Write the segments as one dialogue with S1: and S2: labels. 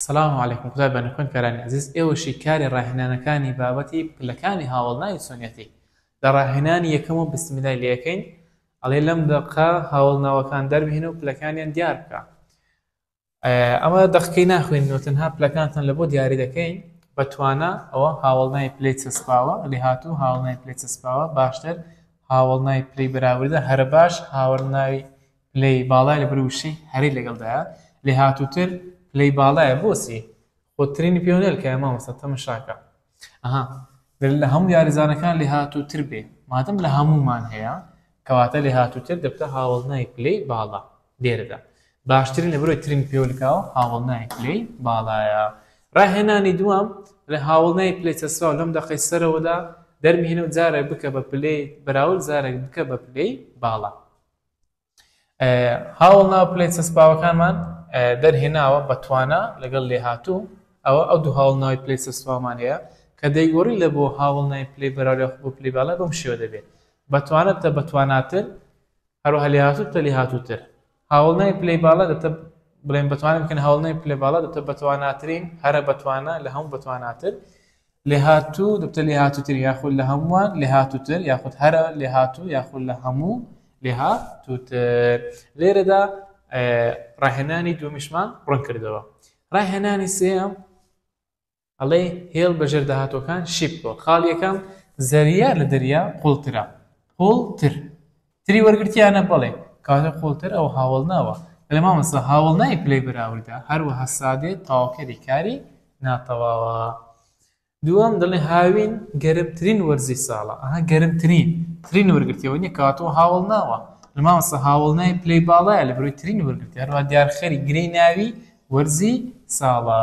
S1: سلام علیکم قوتابی بانی خوێن کارانی ئەزیز ئێوە شی کاری ڕاهێنانەکانی بابەتی پلەکانی هاوەڵناوی چۆنیەتی لە ڕاهێنانی یەکەم و بسمیلای لەکەین ئەڵێ لەم دەقە هاوڵناوەکان دەربهێنە و پلەکانیان دیار بکە ئەمە دەقەکەی ناخوێنەوە تەنها پلەکانتان لە بۆ دیاری دەکەین بە توانە ئەوە هاوڵنای پلی چەسپاوە لێ هاتوو هاوڵنای پلی چەسپاوە باشتر هاوڵنای پلی بەراوردە هەرە باش هاوەرناوی پلەی باڵای لەبەر وشەی هەرەی لەگەڵدایە لێهاتووتر پلەی باڵایە بۆچی خۆ ترینی پێوە نەلکایە مامۆستا تەمەشاکە ئەها گەر لە هەموو یاریزانەکان لێهاتووتر بێ مادەم لە هەموومان هەیە کەواتە لێهاتووتر دەبتە هاوڵنای پلەی باڵا لێرەدا باشترین لە برۆی ترین پێولکاو هاوڵنای پلەی باڵایە ڕاهێنانی دوام لە هاوڵنای پلەی چەسرا لەم دەقەی سەرەوەدا دەرمهێنە و جارێک بکە بە پلەی بەراورد جارێک بکە بە پلەی باڵا هاوڵ ناو پلەی چەسپاوەکانمان دەرهێناوە بە توانا لەگەڵ لێهاتوو ئەوە ئەو دوو هاوڵ ناوی پلەی چەسپاومان هەیە کە دەیگۆڕی لە بۆ هاوڵ ناوی پلەی بەراورە بۆ پلی باڵای بەم شێوە دەبێت بە توانە تە بە تواناتر هەروەها لێهاتوو تە لێهاتووتر هاوڵ ناوی پلەی باڵا دەتە بڵێن بەتوانم کەن هاوڵ ناوی پلە باڵا دەتە بەتواناترین هەرە بەتوانە لە هەموو بەتواناتر لێهاتوو، دەبتە لێهاتووتر یاخود لە هەمووان لێهاتووتر یاخود هەرە لێهاتوو یاخود لە هەموو لێهاتووتر. لێرەدا ڕاهێنانی دووەمیشمان ڕوون کردەوە. ڕاهێنانی سێیەم ئەڵێ هێڵ بەژێر داهاتووەکان شیپکۆ خاڵیەکەم زەریا لە دەریا قوڵترە قوڵتر تری وەرگرتیانە بەڵێ کاتە قوڵتر ئەو هاوەڵ ناوە بەێ مامەسا هاوڵ نای پلەی بەراوردا هەروە هەسادێت تاوکەری کاری ناتەواوە دووەم دڵێ هاوین گەرمترین وەرزی ساڵە ئەها گەرمترین ترین وەرگرتیەوە نیە کاتۆ هاوڵ ناوە لە مامەسا هاوڵ نای پلەی باڵایە لە بروی ترین وەرگرتی هەروە دیارخەری گرەی ناوی وەرزی ساڵە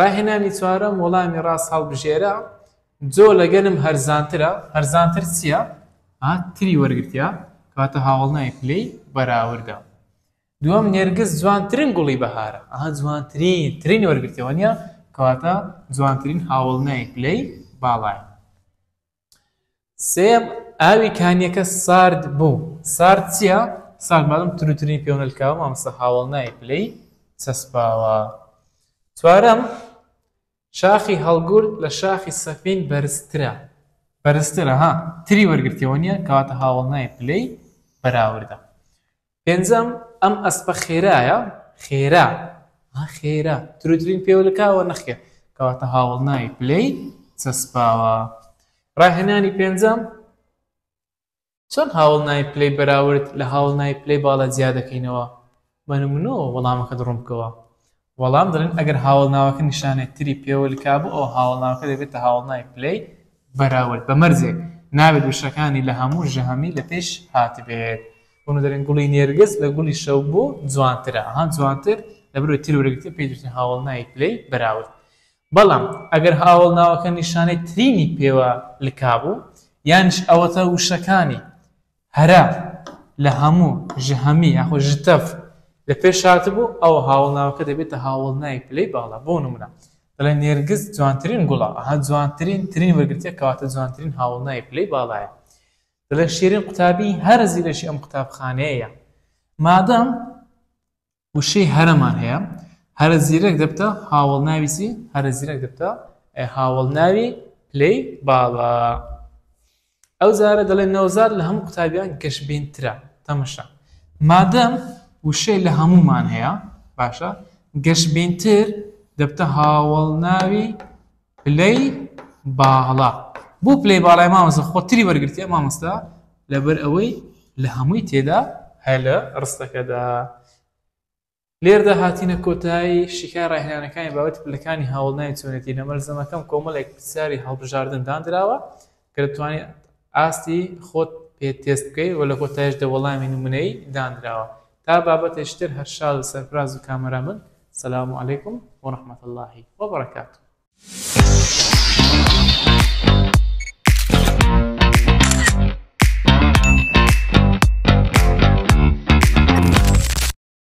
S1: ڕاهێنانی چوارەم وەڵامی ڕاست هەڵبژێرە، جۆ لەگەلم هەرزانترە، هەرزانتر چیە؟ ئا تری وەرگرتیە کەواتە هاوەڵناوی پلەی بەراوردە. دوەم نێرگز جوانترین گوڵی بەهارە، ئا جوانترین ترین وەرگرتیە وەنیە کەواتە جوانترین هاوەڵناوی پلەی باڵایە. سێم ئاوی کانیەکە سارد بوو سارد چییە؟ سارد مادەم تروترین پێو نەلکاوە مامۆستا هاوڵ نایە پلەی چەسپاوە چوارەم شاخی هەڵگورد لە شاخی سەفین بەرزترە بەرزترە ها تری وەرگرتیەوە نییە کەواتە هاوڵ نایە پلەی بەراوردە پێنجەم، ئەم ئەسپە خێرایە؟ خێرا، ها خێرا، تروترین پێولکاوە؟ نەخێر، کەواتە هاوەڵناوی پلەی چەسپاوە. ڕاهێنانی پێنجەم، چۆن هاوەڵناوی پلەی بەراورد لە هاوەڵناوی پلەی باڵا جیا دەکەینەوە؟ بە نمونەوە وەڵامەکەت ڕوون بکەوە. وەڵام، دەڵێن ئەگەر هاوەڵناوەکە نیشانەی تری پێوە لکابوو ئەوە هاوەڵناوەکە دەبێتە هاوەڵناوی پلەی بەراورد بە مەرجێک نابێت وشەکانی لە هەموو ژەهمی لە پێش هاتبێت. بۆنە دەرێن گوڵی نێرگز لە گوڵی شەو بۆ جوانترە ئەها جوانتر لە بەرەوەی تر وەرگتە پێی دەوترێت هاوەڵناوی پلەی بەراورد بەڵام ئەگەر هاوەڵناوەکە نیشانەی ترینی پێوە لکابوو یانیش ئەوەتە وشەکانی هەرە لە هەموو ژهمی یاخود ژتەڤ لە پێش هاتبوو، ئەوا هاوەڵناوەکە دەبێتە هاوەڵناوی پلەی باڵا. بۆ نموونە، دەڵێن نێرگز جوانترین گوڵە، ئەها جوانترین، ترین وەرگرتییە کەواتە جوانترین هاوەڵناوی پلەی باڵایە. دەڵێن شیرین قوتابیی هەر زیرەکی ئەم قوتابخانەیەیە. مادام وشەی هەرەمان هەیە هەرە زیرەک دەبتە هاوڵ ناویسی هەرە زیرەک دەبتە هاوڵ ناوی پلەی باڵا ئەو زارە دەڵێن نەوزار لە هەموو قوتابیان گەشبینترە تەمەشا مادەم وشەی لە هەمومان هەیە باشە گەشبینتر دەبتە هاوڵ ناوی پلەی باڵا بۆ پلەی باڵای مامۆستا خۆتری وەرگرتیە مامۆستا لەبەر ئەوەی لە هەمووی تێدا هەیە لە ڕستەکەدا لێردا هاتینە کۆتایی شیکای ڕاهێنانەکانی بابەتی پلەکانی هاوڵناوی چۆنێتی لە مەلزەمەکەم کۆمەڵێک پرسیاری هەڵبژاردن دانراوە کە دەتوانیت ئاستی خۆت پێ تێست بکەیت و لە کۆتایشدا وەڵامی نمونەیی دانراوە تا بابەتێکی تر هەر شاد و سەرفراز و کامەران بن سلام علیکم و رحمت اللە و برکاته.